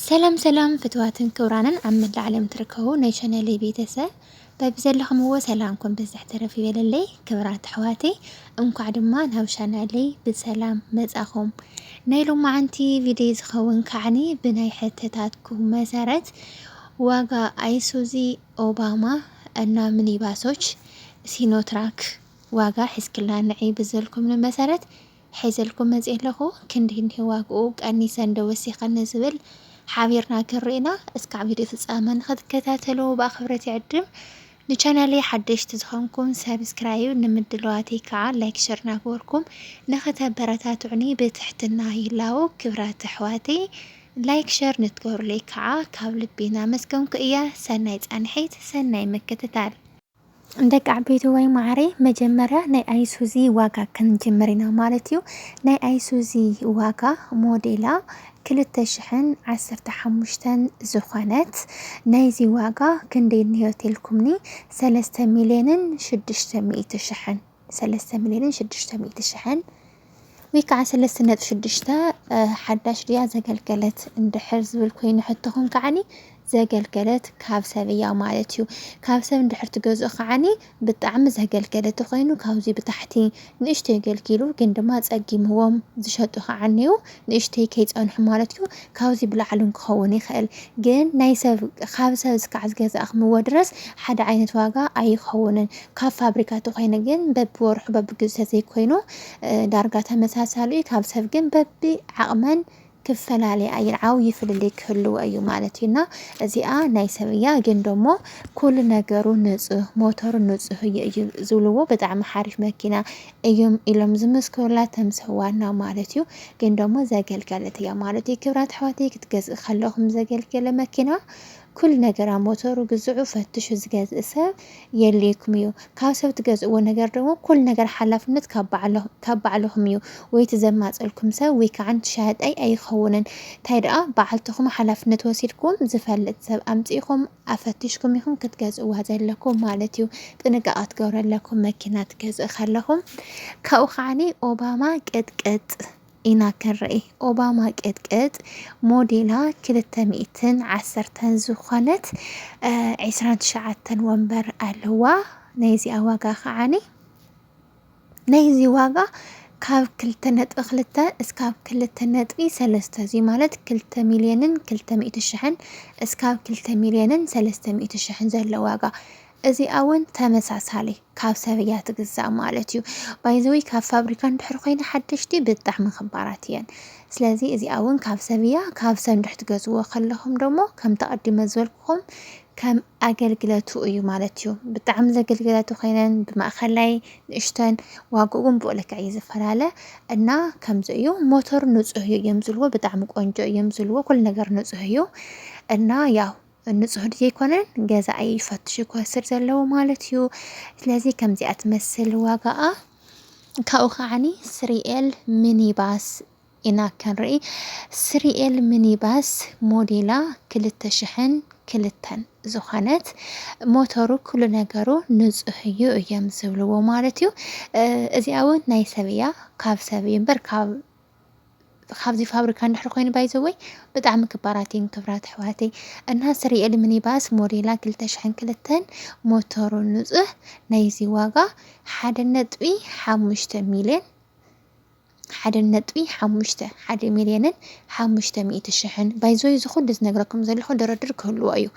ሰላም ሰላም ፍትዋትን ክብራንን ኣብ መላእ ዓለም ትርከቡ ናይ ቻነለይ ቤተሰብ በብዘለኹምዎ ሰላምኩም ብዝሕ ተረፍ ይበለለይ። ክብራት ኣሕዋተይ እንኳዕ ድማ ናብ ቻናለይ ብሰላም መጻኹም። ናይ ሎማዓንቲ ቪድዮ ዝኸውን ከዓኒ ብናይ ሕተታትኩም መሰረት ዋጋ ኣይሱዚ ኦባማ እና ሚኒባሶች ሲኖትራክ ዋጋ ሕዝክላ ንዒ ብዘልኩም መሰረት ሒዘልኩም መጺኤ ኣለኹ ክንድይ እንድዩ ዋግኡ ቀኒሰን ዶ ወሲኸን ንዝብል ሓቢርና ክንርኢ ኢና እስካዕ ቪድዮ ፍጻመ ንኽትከታተሉ ብኣኽብረት ይዕድም ንቻናለይ ሓደሽቲ ዝኾንኩም ሰብስክራይብ ንምድለዋተይ ከዓ ላይክ ሸር ናግበርኩም ንኽተበረታትዑኒ ብትሕትና ይላቦ ክብራት ኣሕዋተይ ላይክ ሸር ንትገብሩለይ ከዓ ካብ ልቢ ናመስገንኩ እየ ሰናይ ጻንሒት ሰናይ ምክትታል። ደቂ ዓበይትዋይ ማዓረይ መጀመርያ ናይ ኣይሱዚ ዋጋ ክንጅምር ኢና ማለት እዩ ናይ ኣይሱዚ ዋጋ ሞዴላ ክልተ ሽሕን ዓሰርተ ሓሙሽተን ዝኾነት ናይዚ ዋጋ ክንደይ እንሄ ተልኩምኒ ሰለስተ ሚልየንን ሽዱሽተ ሚእቲ ሽሕን ሰለስተ ሚልዮንን ሽዱሽተ ሚእቲ ሽሕን ወይ ከዓ ሰለስተ ነጥቢ ሽዱሽተ ሓዳሽ ድያ ዘገልገለት እንድሕር ዝብል ኮይኑ ሕቶኹም ከዓኒ ዘገልገለት ካብ ሰብ እያ ማለት እዩ ካብ ሰብ እንድሕር ትገዝኡ ከዓኒ ብጣዕሚ ዘገልገለት ተኾይኑ ካብዚ ብታሕቲ ንእሽቶ የገልጊሉ ግን ድማ ጸጊምዎም ዝሸጡ ከዓኒ እዩ ንእሽተይ ከይጸንሑ ማለት እዩ ካብዚ ብላዕሊ ውን ክኸውን ይኽእል ግን ናይ ሰብ ካብ ሰብ እስካዕ ዝገዛእክምዎ ድረስ ሓደ ዓይነት ዋጋ ኣይኸውንን ካብ ፋብሪካ ተኾይነ ግን በብወርሑ በብግዝኡ ተዘይኮይኑ ዳርጋ ተመሳሳሊ እዩ ካብ ሰብ ግን በቢ ዓቕመን ክፈላለያ እየን ዓብዪ ፍልልይ ክህልዎ እዩ ማለት እዩ እና እዚኣ ናይ ሰብ እያ ግን ደሞ ኩሉ ነገሩ ንፁህ ሞተሩ ንፁህ እዩ እዩ ዝብልዎ ብጣዕሚ ሓሪፍ መኪና እዮም ኢሎም ዝመስክሩላ ተምሰ ዋና ማለት እዩ ግን ደሞ ዘገልገለት እያ ማለት እዩ ክብራት ኣሕዋተይ ክትገዝእ ከለኹም ዘገልገለ መኪና ኩሉ ነገራ ሞተሩ ግዝዑ ፈትሹ ዝገዝእ ሰብ የልይኩም እዩ ካብ ሰብ ትገዝእዎ ነገር ደሞ ኩሉ ነገር ሓላፍነት ካብ ባዕልኹም እዩ ወይ ትዘማፀልኩም ሰብ ወይ ከዓ ትሻያጣይ ኣይኸውንን እንታይ ደኣ ባዓልትኹም ሓላፍነት ወሲድኩም ዝፈልጥ ሰብ ኣምፂእኹም ኣፈቲሽኩም ኢኹም ክትገዝእዋ ዘለኩም ማለት እዩ ጥንቃቐ ክትገብሩ ኣለኩም መኪና ትገዝእ ከለኹም ካብኡ ከዓኒ ኦባማ ቅጥቅጥ ኢና ክንርኢ ኦባማ ቅጥቅጥ ሞዴላ ክልተ ሚእትን ዓሰርተን ዝኾነት ዒስራን ትሽዓተን ወንበር ኣለዋ ናይ እዚኣ ዋጋ ከዓኒ ናይዚ ዋጋ ካብ ክልተ ነጥቢ ክልተ እስካብ ክልተ ነጥቢ ሰለስተ እዙይ ማለት ክልተ ሚልዮንን ክልተ ሚእቲ ሽሕን እስካብ ክልተ ሚልዮንን ሰለስተ ሚእቲ ሽሕን ዘሎ ዋጋ እዚኣ እውን ተመሳሳሊ ካብ ሰብ እያ ትግዛእ ማለት እዩ። ባይዘወይ ካብ ፋብሪካ እንድሕር ኮይነ ሓደሽቲ ብጣዕሚ ክባራት እየን። ስለዚ እዚኣ እውን ካብ ሰብ እያ ካብ ሰብ እንድሕር ትገዝዎ ከለኹም ደሞ ከምቲ ኣቐዲመ ዝበልኩ ኹም ከም ኣገልግለቱ እዩ ማለት እዩ። ብጣዕሚ ዘገልግለቱ ኮይነን ብማእኸላይ ንእሽተን ዋግኡ ግን ብኡ ልክዕ እዩ ዝፈላለ እና ከምዚ እዩ። ሞተሩ ንፁህ እዩ እዮም ዝልዎ ብጣዕሚ ቆንጆ እዮም ዝልዎ ኩሉ ነገር ንፁህ እዩ እና ያው ንፁህ ዘይኮነን ገዛኢ ፈትሹ ክወስድ ዘለዎ ማለት እዩ። ስለዚ ከምዚኣ ትመስል ዋጋኣ ካብኡ ከዓኒ ስሪኤል ሚኒባስ ኢና ክንርኢ ስሪኤል ምኒባስ ሞዴላ ክልተ ሽሕን ክልተን ዝኾነት ሞተሩ ኩሉ ነገሩ ንጹህ እዩ እዮም ዝብልዎ ማለት እዩ እዚኣ እውን ናይ ሰብ እያ ካብ ሰብ እዩ እምበር ካብ ካብዚ ፋብሪካ እንድሕር ኮይኑ ባይዘወይ ብጣዕሚ ክባራት እየን ክብራት ኣሕዋተይ እና ስሪኤል ሚኒባስ ሞዴላ 202 ሞተሩ ንፁህ ናይዚ ዋጋ ሓደ ነጥቢ ሓሙሽተ ሚልዮን ሓደ ነጥቢ ሓሙሽተ፣ ሓደ ሚልዮንን ሓሙሽተ ሚእቲ ሽሕን፣ ባይ ዘ ወይ እዚ ኩሉ ዝነግረኩም ዘለኹ ድርድር ክህልዎ እዩ፣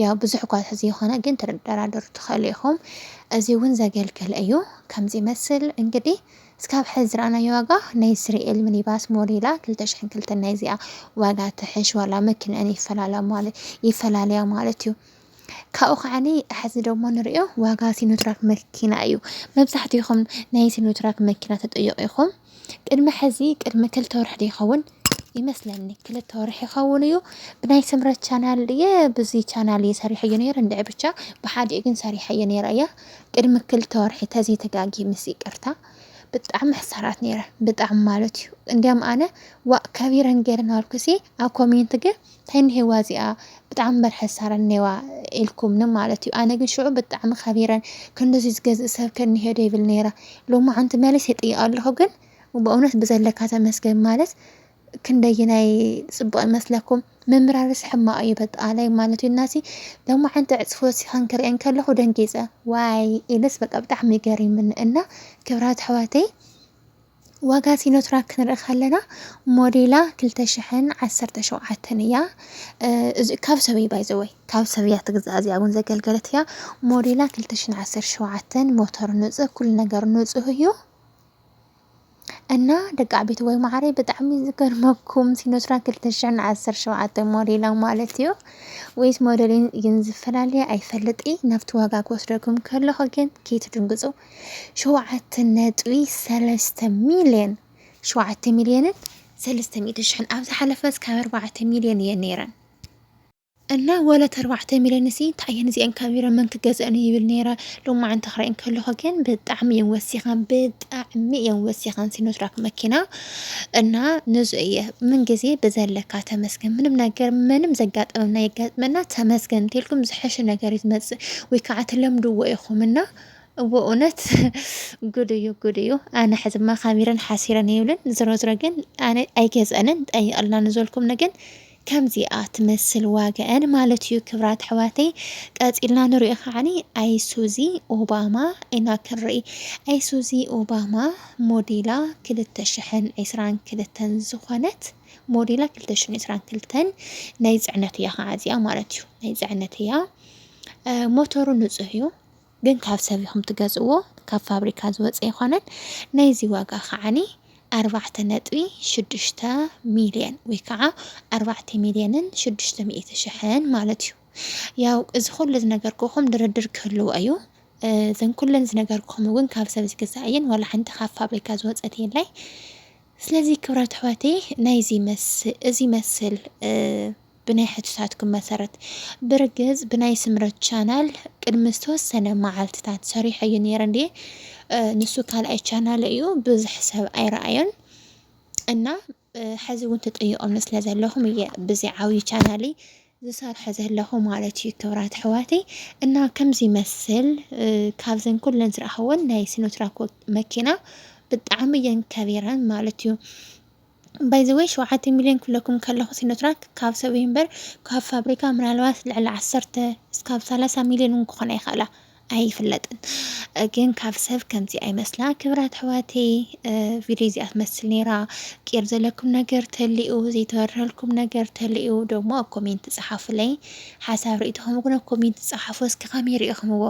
ያው ብዙሕ እኳ ተዘይኾነ ግን ትደራደሩ ትኸእሉ ኢኹም፣ እዚ እውን ዘገልግል እዩ ከምዚ ይመስል እንግዲህ እስካብ ሕዚ ዝረኣናዮ ዋጋ ናይ እስራኤል ሚኒባስ ሞዴላ ክልተ ሽሕን ክልተን ናይዚኣ ዋጋ ትሕሽ ዋላ መኪንአን ይፈላለያ ማለት ይፈላለያ ማለት እዩ። ካብኡ ከዓኒ ሐዚ ደሞ ንሪኦ ዋጋ ሲኖትራክ መኪና እዩ መብዛሕቲኹም ናይ ሲኖትራክ መኪና ተጠየቑ ኢኹም ቅድሚ ሐዚ ቅድሚ ክልተ ወርሒ ዶ ይኸውን ይመስለኒ ክልተ ወርሒ ይኸውን እዩ ብናይ ስምረት ቻናል እየ ብዚ ቻናል እየ ሰሪሐዮ ነይረ እንድዒ ብቻ ብሓዲኡ ግን ሰሪሐዮ ነይረ እያ ቅድሚ ክልተ ወርሒ ተዘይ ተጋጊ ምስ ይቅርታ ብጣዕሚ ሕሳራት ነይረ ብጣዕሚ ማለት እዩ እንዲያም ኣነ ዋእ ከቢረን ገይረን ኣልኩሲ ኣብ ኮሜንት ግን ታይ እኒሄዋ እዚኣ ብጣዕሚ በርሐ ሳረ እኒሄዋ ኢልኩምኒ ማለት እዩ ኣነ ግን ሽዑ ብጣዕሚ ከቢረ ክንድዙይ ዝገዝእ ሰብ ከ እኒሄ ዶ ይብል ነይረ ሎማዓንቲ መሊሰ ይጥይቅ ኣለኩ ግን በእውነት ብዘለካ ተመስገን ማለት ክንደይናይ ፅቡቅ ይመስለኩም ምምራርስ ሕማቅ እዩ በጣላይ ማለት እዩ እናሲ ሎማዓንቲ ዕፅፎ ሲከን ክርእየን ከለኩ ደንጊፀ ዋይ ኢልስ በቃ ብጣዕሚ ገሪምኒ እና ክብራት ኣሕዋተይ ዋጋ ሲኖትራክ ክንርኢ ከለና ሞዴላ ክልተ ሽሕን ዓሰርተ ሸውዓተን እያ። እዚ ካብ ሰብ እዩ ባይ ዘ ወይ ካብ ሰብ እያ ትግዛእ እዚኣ እውን ዘገልገለት እያ። ሞዴላ ክልተ ሽሕን ዓሰርተ ሸውዓተን ሞተር ንፁህ ኩሉ ነገር ንፁህ እዩ። እና ደቂ ዓበይቲ ወይ ማዕረይ ብጣዕሚ ዝገርመኩም ሲኖትራክ ክልተ ሽሕን ዓሰርተ ሸውዓተን ሞዴላ ማለት እዩ ወይስ ሞዴልን ግን ዝፈላለየ ኣይፈልጥ እይ ናብቲ ዋጋ ክወስደኩም ከለኹ ግን ከይትድንግፁ ሸውዓተ ነጥቢ ሰለስተ ሚልየን ሸውዓተ ሚልየንን ሰለስተ ሚእቲ ሽሕን ኣብ ዝሓለፈስ ካብ ኣርባዕተ ሚልየን እየን ነይረን እና ወለ ተርባዕተ ሚልዮን ሲ እንታይ እየን እዚአን ካቢረ መን ክገዝአን ይብል ነይረ ሎማዓንቲ ክርእየን ከለኹ ግን ብጣዕሚ እየን ወሲኸን ብጣዕሚ እየን ወሲኸን ሲኖትራክ መኪና እና ንዙ እየ ምን ግዜ ብዘለካ ተመስገን ምንም ነገር ምንም ዘጋጠመና የጋጥመና ተመስገን እንተልኩም ዝሐሸ ነገር እዩ ዝመፅእ ወይ ከዓ ትለምድዎ ኢኹም እና ብእውነት ጉድ እዩ ጉድ እዩ ኣነ ሕዝማ ካሚረን ሓሲረን ይብልን ዝሮ ዝሮ ግን ኣነ ኣይገዝአንን ጠይቅልና ንዘልኩም ንግን ከምዚኣ ትመስል ዋጋአን ማለት እዩ ክብራት ኣሕዋተይ ቀፂልና ንሪኦ ከዓኒ ኣይሱዚ ኦባማ ኢና ክንርኢ ኣይሱዚ ኦባማ ሞዴላ ክልተ ሽሕን ዕስራን ክልተን ዝኾነት ሞዴላ ክልተ ሽሕን ዕስራን ክልተን ናይ ፅዕነት እያ ከዓ እዚኣ ማለት እዩ ናይ ፅዕነት እያ ሞተሩ ንፁህ እዩ ግን ካብ ሰብ ኢኹም ትገዝእዎ ካብ ፋብሪካ ዝወፀ ኣይኮነን ናይዚ ዋጋ ከዓኒ ኣርባዕተ ነጥቢ ሽዱሽተ ሚልዮን ወይ ከዓ ኣርባዕተ ሚልዮንን ሽዱሽተ ሚእቲ ሽሕን ማለት እዩ ያው እዚ ኩሉ ዝነገርኩኹም ድርድር ክህልዎ እዩ እዘን ኩለን ዝነገርኩኹም እውን ካብ ሰብ ዝግዛእ እየን ዋላ ሓንቲ ካብ ፋብሪካ ዝወፀት የላይ ስለዚ ክብራት ኣሕዋተይ ናይዚ መስ እዚ መስል ብናይ ሕቶታትኩም መሰረት ብርግጽ ብናይ ስምረት ቻናል ቅድሚ ዝተወሰነ መዓልትታት ሰሪሐዮ ነይረ እንድየ ንሱ ካልኣይ ቻናል እዩ ብዙሕ ሰብ ኣይረኣዮን እና ሕዚ እውን ትጥይቆም ስለ ዘለኹም እየ ብዚ ዓብዪ ቻናለይ ዝሰርሖ ዘለኹ ማለት እዩ ክብራት ኣሕዋተይ እና ከምዚ ይመስል ካብዘን ኩለን ዝረኣኸወን ናይ ሲኖትራክ መኪና ብጣዕሚ እየን ከቢረን ማለት እዩ ባይ ዘ ዌይ ሸውዓተ ሚልዮን ክብለኩም ከለኩ ሲኖትራክ ካብ ሰብ እዩ እምበር ካብ ፋብሪካ ምናልባት ልዕሊ ዓሰርተ እስካብ ሰላሳ ሚልዮን ውን ክኮና ይክእላ ኣይፍለጥን ግን ካብ ሰብ ከምዚ ኣይመስላ ክብራት ኣሕዋተይ ቪድዮ እዚኣ ትመስል ነይራ ቂር ዘለኩም ነገር ተልኡ ዘይተበረሀልኩም ነገር ተልኡ ደሞ ኣብ ኮሜንት ጸሓፉለይ ሓሳብ ርእይቶኹም እውን ኣብ ኮሜንት ጸሓፉ እስኪ ከመይ ርኢኹምዎ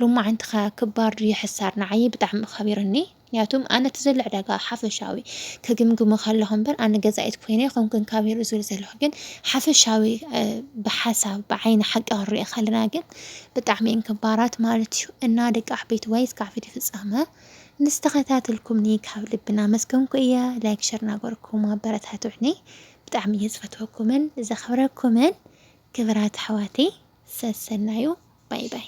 ሎማዓንቲ ከ ክባር ድዩ ሕሳር ንዓይ ብጣዕሚ ከቢርኒ ምክንያቱም ኣነ እቲ ዘሎ ዕዳጋ ሓፈሻዊ ክግምግሞ ከለኹ እምበር ኣነ ገዛኢት ኮይነ ኣይኮንኩን ካቢሩ ዝብል ዘለኹ ግን ሓፈሻዊ ብሓሳብ ብዓይኒ ሓቂ ክንሪኦ ከለና ግን ብጣዕሚ እየን ክባራት ማለት እዩ እና ደቂ ዓበይቲ ዋይ እስካዕ ቪድዮ ፍጻመ ምስ ተኸታተልኩምኒ ካብ ልቢ እናመስገንኩ እየ ላይክ ሸር እናገበርኩም ኣበረታትዑኒ ብጣዕሚ እየ ዝፈትወኩምን ዘኽብረኩምን ክብራት ኣሕዋተይ ሰሰናዩ ባይ ባይ